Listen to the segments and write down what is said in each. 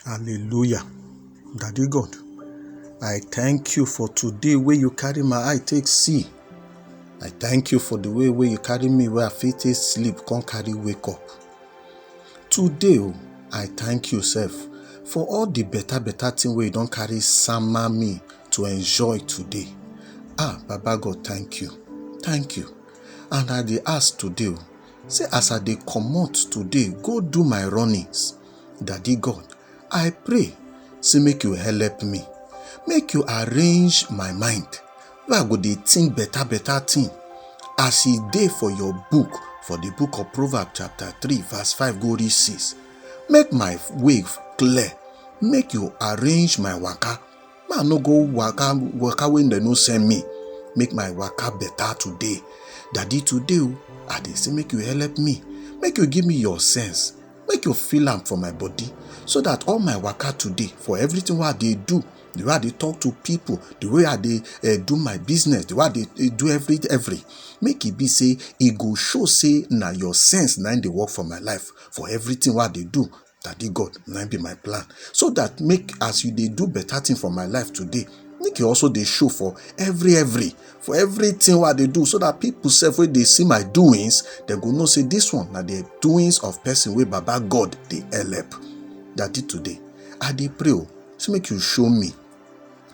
Hallelujah. Daddy God, I thank you for today where you carry my eye take see. I thank you for the way where you carry me where I fit take sleep, come carry wake up. Today, oh, I thank you, self, for all the better, better thing where you don't carry summer me to enjoy today. Ah, Baba God, thank you. Thank you. And I dey ask today, oh, Say as I dey comot today go do my runnings, Daddy God, I pray say make you help me, make you arrange my mind wey I go dey think better better thing as e dey for your book for the book of Proverbs chapter 3 verse 5 go reach 6. Make my way clear, make you arrange my waka ma no go waka waka when dem no send me make my waka better today daddy today o i dey say make you help me make you give me your sense make you feel am for my body so that all my waka today for everything wey i dey do the way i dey talk to people the way i dey uh, do my business the way i dey eh, do every every make e be say e go show say na your sense na im dey work for my life for everything wey i dey do Daddy God, na im be my plan. So that make as you dey do better thing for my life today, make you also dey show for every every for everything wey I dey do so that people sef wey dey see my doings, dem go know say this one na the doings of person wey Baba God dey help. Daddy today, I dey pray o, say make you show me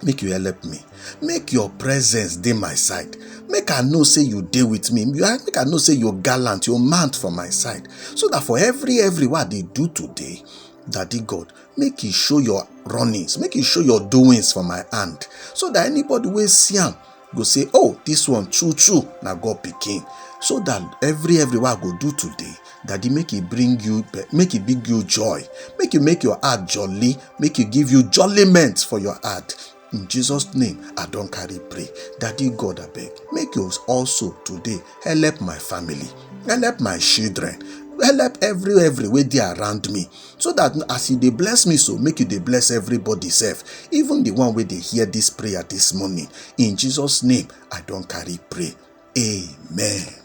make you help me make your presence dey my side make i know say you dey with me make i know say you gallant you mount for my side so that for every every wey i dey do today daddy god make you show your runnings make you show your doings for my hand so that anybody wey see am go say oh this one true true na god pikin so that every every wey i go do today daddy make e bring you make e bring you joy make e make your heart jolly make e give you jolliment for your heart in jesus name i don carry pray daddy god abeg make you also today help my family help my children help every every wey dey around me so that as you dey bless me so make you dey bless everybody sef even the one wey dey hear this prayer this morning in jesus name i don carry pray amen